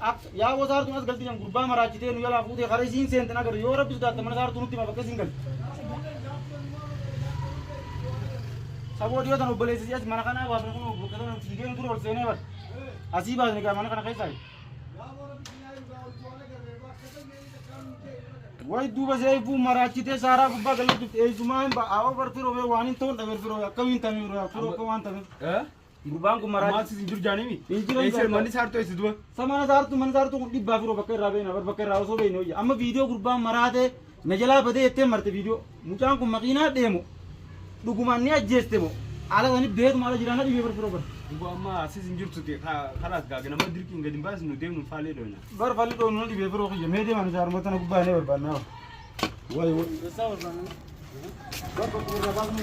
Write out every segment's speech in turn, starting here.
Akka yaa wasaartuun as galti jan gurbaa maraachitee nu jalaa fuutee kara isiin seenten agarre yoo rabbi sodaatte mana saartuu nutti hima bakka isiin galte. Saboo dhiyoo tan obboleessi si as mana kanaa baasne kun bakka sana fiigeen ture ol seenee bar. Asii baasne gaa mana kana keessaa. Way duuba see ifuun maraachitee saaraa gubbaa galatti eessumaa hin ba'a. Awoo bar firoo bee waan hin ta'uun dhabeer firoo akkamiin tamee firoo akka waan tameef. Gurbaan kun maraa. Maatis hin jiru jaanimi. Hin jiru. Eessa manni saartuu eessa duba? Sa mana saartuu mana saartuu kun dhibbaa firoo bakka irraa beekna bar bakka irraa osoo beekne hoyya. Amma viidiyoo gurbaan maraatee na jalaa badee jettee marte viidiyoo. Mucaan kun makiinaa deemu dhugumaan ni ajjeeste moo? Ala sani beetuma ala jiraana dhibee bar firoo bar. Duba amma asis hin jirtu ti kalaas gaage nama dirqiin gadi hin baasnu deemnu faalee dhoyna. Bar falli dhoynu na dhibee firoo kiyya mee deemaan isaa armata na gubbaa inni barbaannaa. Wayi wayi. Bar bakka irraa baasnu.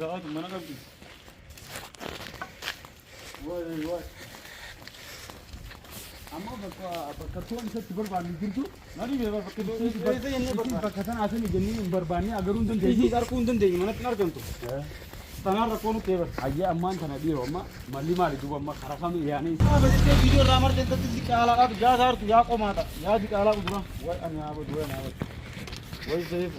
Rahat mana kabdi. Wai wai. Amma bakka bakka toon isatti barbaanne jirtu. Mali bee bakka toon isatti barbaanne. Isa jennee barbaanne. Bakka sana asini jennee hin barbaanne agaruu hin dandeenyu. Isiis arguu hin dandeenyu manatti hin argamtu. Tanaan rakkoo nutti eegan. Ayyee ammaan tana dhiiroo amma malli maali duuba amma karaa kami yaanii. Haa bajettee viidiyoo irraa marte intatti si caalaadhaatu yaa saartu yaa qomaata yaa di caalaa quduraa. Wai ani haa badu wai ani haa badu. Wai seefu.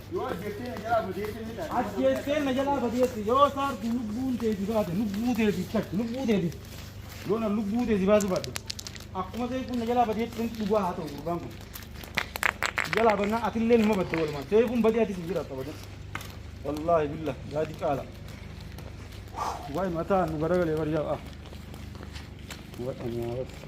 Yoo ajjeeftee na jalaa badeetti ni taate. Ajjeesteen na jalaa badeetti yoo taartu lubbuun teeti baate lubbuu teeti takka lubbuu teeti yoo na lubbuu teeti baasu baadhe akkuma ta'e kun na jalaa badeetti dhugaa haa ta'u gurbaan kun jalaa bannaan atillee numa badde walumaan ta'e kun badee atis hin jiraata badee wallaahi billa yaadi caala waa'ee mataa nu garagalee bariyaa ah waa'ee nyaata.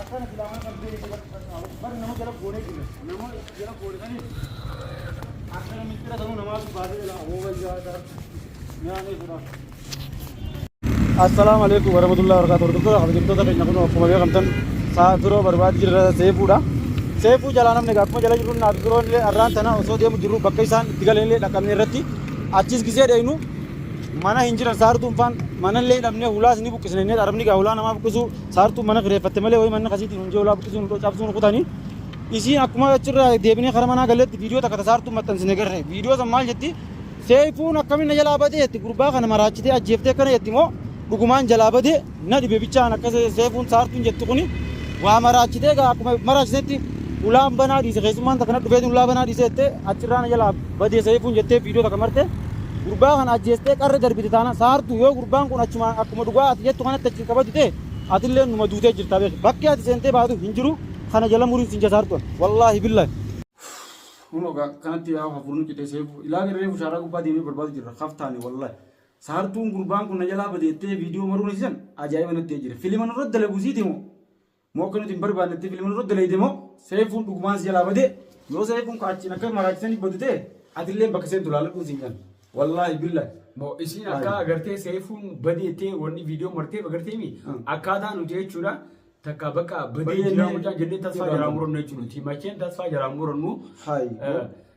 Akkana silaa mana kan beekne bakka qaqqaabu. Bara nama jala goonee jirra. Nama jala goone saniif akkana mixxira sanuu namaatu baasee jala abooba ijaarata nyaanee jira. Assalaamu alaikum warahmatullahi wabarakatuh. Hordoftoota kabajamtoota keenya kun akkuma beekamtan sa'a biroo barbaadii jirra seefuudha. Seefuu jalaa namni akkuma jala jirru naaf biroon illee arraan tana osoo deemu jirru bakka isaan itti galan illee dhaqabne irratti achis gisee dheeynu mana hin jiran saartuun faan mana illee dhabnee hulaas ni buqqisne inni dharabni gaa hulaa namaa buqqisuu Saartuun mana kireeffatte malee wayii manni kasiitiin hunjee ulaa buqqisuu nu cabsuu nu kutani. Isiin akkuma achirraa deebinee kara manaa galletti viidiyoo takka tasaartuun maxxansine garre. Viidiyoo san maal jetti? Seeyfuun akkamiin na jalaa badee jetti gurbaa kana maraachitee ajjeeftee akkana jetti moo dhugumaan jalaa badee na dhibe bichaan akka seeyfuun saartuun jetti kuni waa maraachitee gaa akkuma maraachitetti ulaan banaa dhiise keessummaan takka na dhufeetiin ulaa banaa dhiise jettee achirraa na jalaa badee seeyfuun jettee viidiyoo takka marte gurbaa kana ajjeestee qarra darbite taana saartuu yoo gurbaan kun achuma akkuma dhugaa ati jettu kanatti hin kabaju ta'e atillee numa duutee jirtaa beeki bakki ati seentee baatu hin jiru kana jala murii sin jasaar tuan wallaahi billaahi. Kunoo gaa kanatti yaa hafuurni citee seefu ilaali reefu shaaraa gubbaa deemee barbaadu jirra kaftaani wallahi saartuun gurbaan kun na jalaa bade jettee viidiyoo maruun isisan ajaa'iba natti ta'ee jira filima nurratti dalaguusiiti moo Moo akka nuti hin barbaannetti filmi nurra dalayde moo seefuun dhugumaan si jalaa bade yoo seefuun ka achiin akka maraachisanii badu ta'e atillee bakka seentu laaladhuun siin jedhan. Wallaahi billaahi. Mo isiin akka Ayi. agartee seefuun badee jettee wanni viidiyoo marteef agartee mi Mm. akkaataa nuti jechuudha takka bakka badee Badee jiraa ni- mucaan jennee tasfaa jiraa. jalaa murannu jechuudha nuti macheen tasfaa jalaa murannu Hayi. eh,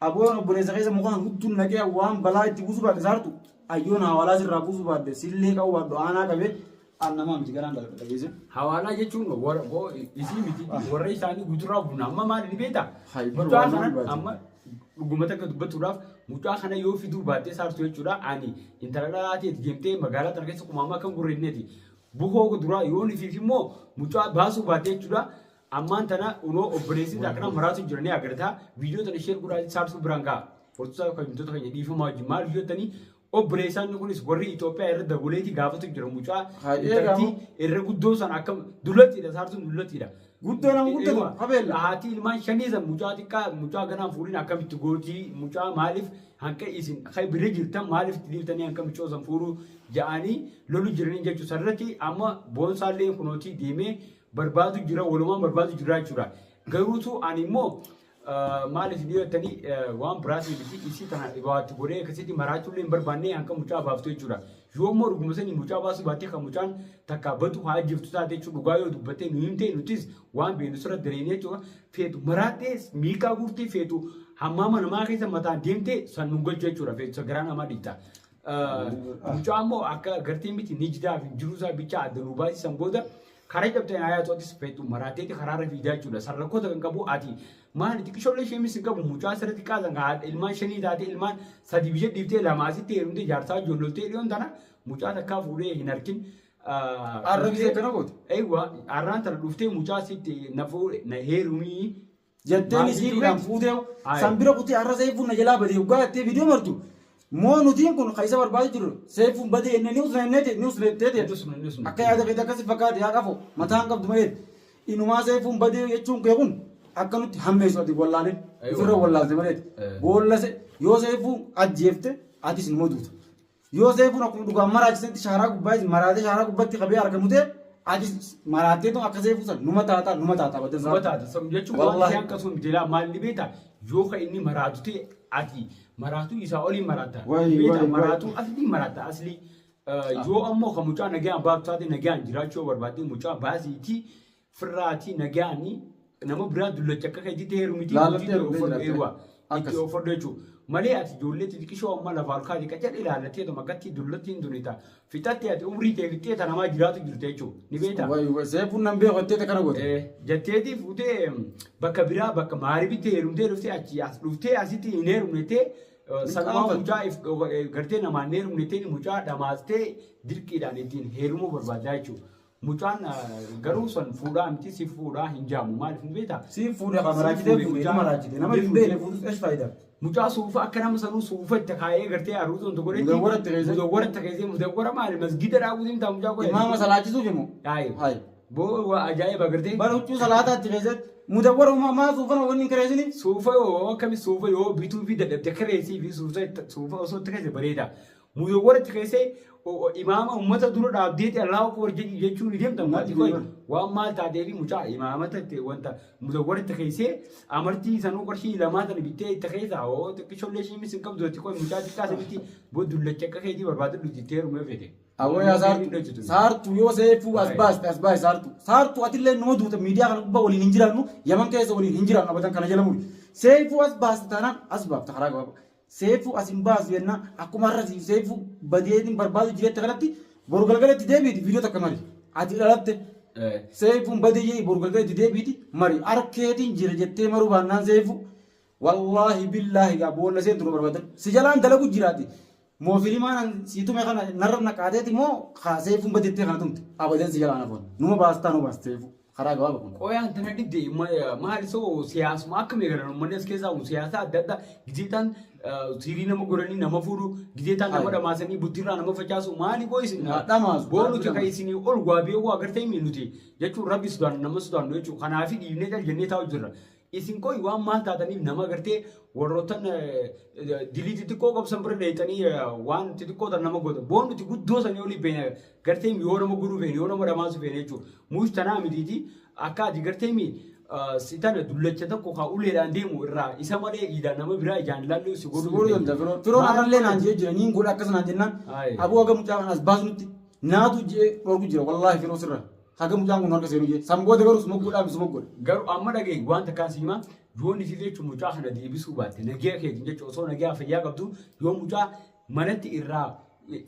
Aboon obboleessa keessa mukaan hudduun naqee waan balaa itti buusuu baadde saartu ayyoon hawaalaa sirraa buusuu baadde sillee qabu baaddu aanaa qabee aan namaa miti garaan dalaga dhageesse. Hawaalaa jechuun warra boo isii miti warra isaanii guuturaa buuna amma maal ni beektaa? Haybar Mucaa waan kanan baate. amma dhuguma takka dubbachuudhaaf mucaa kana yoo fiduu baattee saartu jechuudha ani intala dhalaa ta'eeti deemtee magaalaa tana keessa kumaamaa kan gurreedneeti buhoo duraa yoo ni fiif immoo mucaa baasuu baattee jechuudha Ammaan tana unoo obboleessi akkana maraatu jira ni agarta. Viidiyoo tana sheer godhaa saabsuu biraan ga'a. Hortusaa kan himtoota keenya dhiifamaa wajjin maal hojjettanii obboleessaan kunis warri Itoophiyaa irra daboleetii gaafatu jira mucaa Haa eegamu. intaltii irra guddoo san akka dullattiidha saartuun dullattiidha. Guddoo nama guddatu, Eewa, qabeella. Haati ilmaan shanii san mucaa xiqqaa mucaa ganaan fuudhin akkamitti gootii mucaa maaliif hanqa isin kan bira jirtan maaliif itti dhiiftanii hanqa mucoo san fuudhuu ja'anii lolu jiranii jechuu sarratti amma boonsaallee kunootii deemee barbaadu jira walumaan barbaadu jira jechuudha. Garuutu ani immoo maaliif ni jettanii waan biraatii miti isii tana dhibaatti godhee akkasitti maraachuu illee hin barbaanne hanga mucaa baaftu jechuudha. Yoo immoo dhuguma sanii mucaa baasuu baattee kan mucaan takka badu haa ajjeeftu taate jechuudha dhugaa yoo dubbattee nu himtee nutis waan beeknu sirra dareenya jechuudha. Feetu maraattee miikaa guurtee feetu hammaama namaa keessa mataan deemtee san nu galchu jechuudha feetu sagaraa namaa dhiitaa. Mucaa immoo akka gartee miti nijdaa fi jiruu isaa bichaa adda nuu baasisan booda karaa cabteen ayaa tootis feetu maraateeti karaarra fiidaa jechuudha. Sarrakkoota kan qabu ati maali xiqqishoollee ishee misin qabu mucaa sirriitti qaasan kan haadha ilmaan shanii taatee ilmaan sadii biyya dhiiftee lamaa asitti heerumtee jaarsaa ijoolloltee dhiyoon tana mucaa takkaa fuudhee hin harkin. Arrabsee kana goote? Eewwa arraan tana dhuftee mucaa sitti na fuudhe na heerumii Jattee misikiidhaan fuuteew san bira kutee har'a seeyfuun na jalaa badee hoggaa jattee viidiyoo martu moo nutiin kun ka isa barbaadu jirru seeyfuun badee jennee ni usna jennee ni usna jettee teete akka yaada keetii akkasi fakkaate yaa qafoo mataa hin qabdu malee inumaa seeyfuun badee jechuun kee kun akka nutti hammeessu ati wallaalee ofirra wallaalte maleeti boollase yoo seeyfuun ajjeefte atis numa duuta. Yoo seefuun akkuma dhugaan maraachisetti shaaraa gubbaa maraatee shaaraa gubbatti qabee harka mutee ati maraattee tun akka seefuu san numa taataa numa taataa badda Numa taata sabni jechuun waan Wallaahi. isaan qabsuun jedhaa maalli beekta yoo ka inni maraatu ta'e ati maraatuu isaa olii maraatta Wayi, Ni beekta wayi, maraatuu aslii maraatta aslii Eh, yoo ammoo ka mucaa nagaan baatu taate nagaan jiraachuu yoo barbaadde mucaa baasiitii firraatii nagaanii nama biraa dullacha akka keetitti heerumiti Laallattee itti dhuftee ofodhu jiraatte. eewwa itti Akkas. ofodhu jechuudha. Malee ati ijoollee xixiqqishoo amma lafa halkaati qacal ilaallattee tuma akkatti dullattiin tuni ta'a. Fixattee ati umrii tee fixxee ta namaa jiraatu jirta jechuudha. Ni beektaa? Wayi wayi seefuun nan beeku jettee takka na goote. Eh, Jatteetii fuutee em, bakka biraa bakka maaribitti heerumtee dhuftee achi as dhuftee asitti hin heerumnettee eh, sanumaa qaanfate. mucaa if- dhoka- eh, gartee namaan hin heerumnettee mucaa dhamaastee dirqiidhaan ittiin heerumuu barbaaddaa jechuudha. Mucaan garuu san fuudhaa miti si fuudhaa hin jaamu maaliif ni beektaa? Si fuudha kan maraachitee fuudhe mucaa- dhuma raachite nama hin beekne fuudhus esh faayidaa. Mucaa suufa akka nama sanuu suufa itti kaayee gartee arruutoon tokko dheetti. Mudawwara itti keessee. Mudawwara itti keessee mudawwara maali masgida dhaabuu deemtaa mucaa qoyee. Imaama salaachisuuf immoo. Haayib. Haayib. Boo waa ajaa'iba gartee. Bara huccuu salaataa itti keessee mudawwara uumaa maa suufana wanni hin kireessiniif. Suufa yoo akkami suufa yoo bituu fi dadhabde kireessii fi suufa suufa osoo itti keessa bareeda. Muzawwar achi keessee o- o- imaama uummata dura dhaabdeeti Allahu Akbar jedhi jechuun ni deemta maati qoy waan maal taatee fi mucaa imaamata itti wanta muzawwar itti keessee amartii sanuu qarshii lamaa sana bittee itti keessaa oo xiqqishollee ishii misin qabdu itti qoy mucaa xiqqaa sanitti boddullacha akka keetii barbaadu dhufti itti heerumee fete. Awwaya saartu saartu yoo seefu as Baay'ee. baaste as baay'e saartu saartu atillee numa duuta miidiyaa kana gubbaa waliin hin jiraannu yaman keessa waliin hin jiraannu abadan kana jala muri seefu as baaste taanaan as baafta karaa gabaabaa Seeyfu as hin baasu jenna akkuma har'a siif seeyfu badee hin barbaadu jiretta kanatti boru galgala itti deebiiti viidiyoo takka mari ati dhalatte seeyfuun badee jedhi boru galgala itti deebiiti mari harkeetiin jira jettee maruu baannaan seeyfu wallaahi billaahi gaa boolla seentu nu barbaada si jalaan dalagu jiraati moo filimaan si tume kana narra naqaateeti moo kaa seeyfuun badettee kana tumte abadan si jalaan afoon numa baastaa nu baasta seeyfuu. karaa gabaaba kun. Qoya antana didde maal so siyaasuma akka meegalan uummanni as keessaa kun siyaasa adda addaa gizeetaan siirii nama goranii nama fuudhu gizeetaan nama dhamaasanii buttirraa nama facaasu maali qoo isin dhamaasu boo nuti kan isinii ol waa beekuu agartee mi nuti jechuun rabbi sudaan nama sudaan jechuu kanaafi dhiibnee cal jennee taa'u jirra Isin qoy waan maal taataniif nama gartee warroottan dilii xixiqqoo qabsan bira dheeyxanii waan xixiqqoo tan nama gootan. Boon nuti guddoo sanii olii beena gartee yoo nama godhuu feene yoo nama dhamaasuu feene jechuu. Muush tanaa mitiiti akka ati gartee mi si tana dullacha tokko kaa uleedhaan deemu irraa isa malee iidaan nama biraa ijaan ilaallee si godhuu Sibooruu danda'a firoon. Firoon har'allee naan jee jira niin godha akkas naan jennaan. Ayi. Aboo haga mucaa kana as baasnutti naatu je'ee dhorku jira wallaahi firoo sirra. Haga mucaan kun harka seenu jee. San booda garuu suma godhaa fi suma godha. Garuu amma dhagahi waan takkaan si himaa yoo nitii jechuun mucaa kana deebisuu baatte nagaa keetiin jechuun osoo nagaa fayyaa qabdu yoo mucaa manatti irraa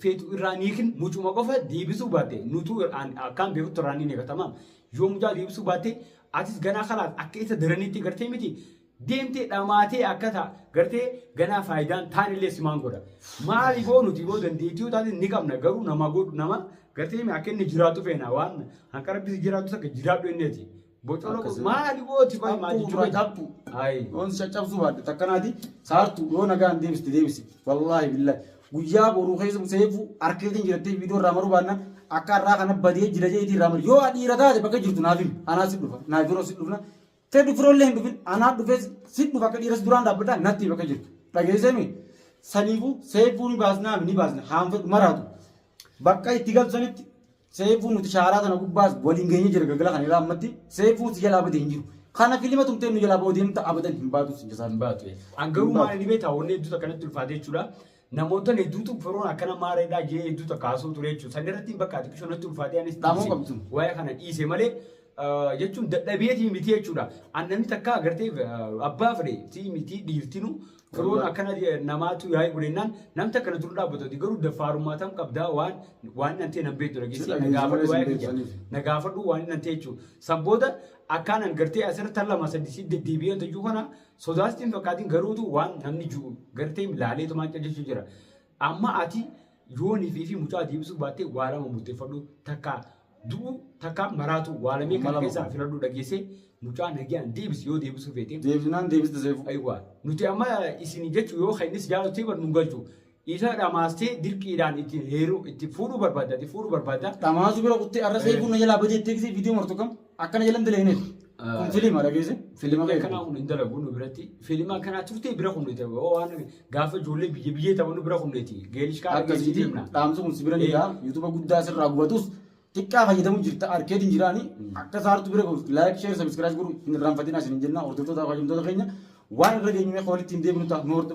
feetu irraa niikin mucuma qofa deebisuu baatte nutuu an- akkaan beekutti irraa ni neegatama. Yoo mucaa deebisuu baatte atis ganaa kalaas akka isa daraniitti gartee miti deemtee dhamaatee akka ta gartee ganaa faayidaan taan illee simaan godha maaliif hoo nuti boo dandeettii yoo taate ni qabna garuu nama godhu nama gartee mi akka inni jiraatu feena waan hanqa rabbisi jiraatu takka jiraadhu inni ati bocoloo Akkasuma. maali boo ti qoy maa jechuu qabda Tappu. Ayi. Yoon si caccabsuu baadhu takka naati saartu yoo nagaan deebiste deebisi. Wallaahi billahi. Guyyaa boruu keessa seefu harkeetiin jirattee viidiyoo irraa maruu baannaan akka har'aa kana badee jira jeetii irraa maru. Yoo adhiira taate bakka jirtu naaf himi. Anaa si dhufa. Naaf yeroo si dhufna. Teddy firoollee hin dhufin anaa dhufee si dhufa akka dhiiras duraan dhaabbadhaa natti bakka jirtu dhageessee mi saniifuu seefuu ni baasnaa ni baasna haan fedhu maraatu bakka itti galtu sanitti seefuu nuti shaaraa tana gubbaas waliin geenye jira galgala kana irraa ammatti seefuu si jalaa badee hin jiru kana filima tumtee nu jalaa ba'uu deemta abadan hin baatu si jalaa hin baatu. An garuu maal inni beektaa wanni hedduutu akkanatti ulfaate jechuudha. Namoota hedduutu firoon akkana maareedhaa jee hedduu takka haasoo ture jechuudha. San irratti bakka ati qishoo natti ulfaatee anis Dhaamuu dhiise. qabdu. Waa'ee kana dhiise malee eh, jechuun dadhabeetii miti jechuudha. An namni takka agartee eh, abbaa fedhe tii miti dhiirtinu firoon Wallah. akkana eh, namaatu yaa'ii godhennaan namni takka na dura dhaabbatu garuu dafaarummaa tam qabdaa waan waan nan ta'e nan beektu dhageessee na dhageessu gaafadhu malee waa'ee sin kiyya. beeksisaniif. na gaafadhu waan nan ta'e jechuudha. San booda akkaan an gartee asirratti tan lama sadii si deddeebi'ee tajuu kana Sodaa sitti hin fakkaatin garuutu waan namni jiru garteem laaleetumaan callisu jira. Amma ati yoo nifii fi mucaa deebisuu baattee waa lama murteeffadhu takka du'u takka maraatu waa lamee Amma kana lama keessaa kun. filadhu dhageessee mucaa nagiyaan deebisi yoo deebisuu feete. Deebisnaan deebista seefuu. Aywa nuti amma isin jechu yoo kennis jaalatu ta'e bar nun galchu. Isa dhamaastee dirqiidhaan itti heeruu itti fuudhuu barbaadda itti fuudhuu barbaadda. Dhamaasuu bira kuttee arra seefu na jalaa badee teeksee viidiyoo martu kam akkana jalan daleeneef. Kun filiima dhageesse. Filima kanaa kun hin dalagu nu biratti. Filima kanaa turtee bira kunneeti. Waan gaafa ijoollee biyya biyyee taphannu bira kunneeti. Geelish kaa Akkasitti dhaamsi kun si bira ni ga'a. Yuutuuba guddaa sirraa gubatus xiqqaa fayyadamu jirta arkeetiin hin jiraani. Akka saartu bira gahuuf laayik sheer sabiskiraayis godhu hin irraanfatinaa isin hin jennaa hordoftoota fayyadamtoota keenya waan irra geenyumee walitti hin deebinu ta'a nu hordofaa.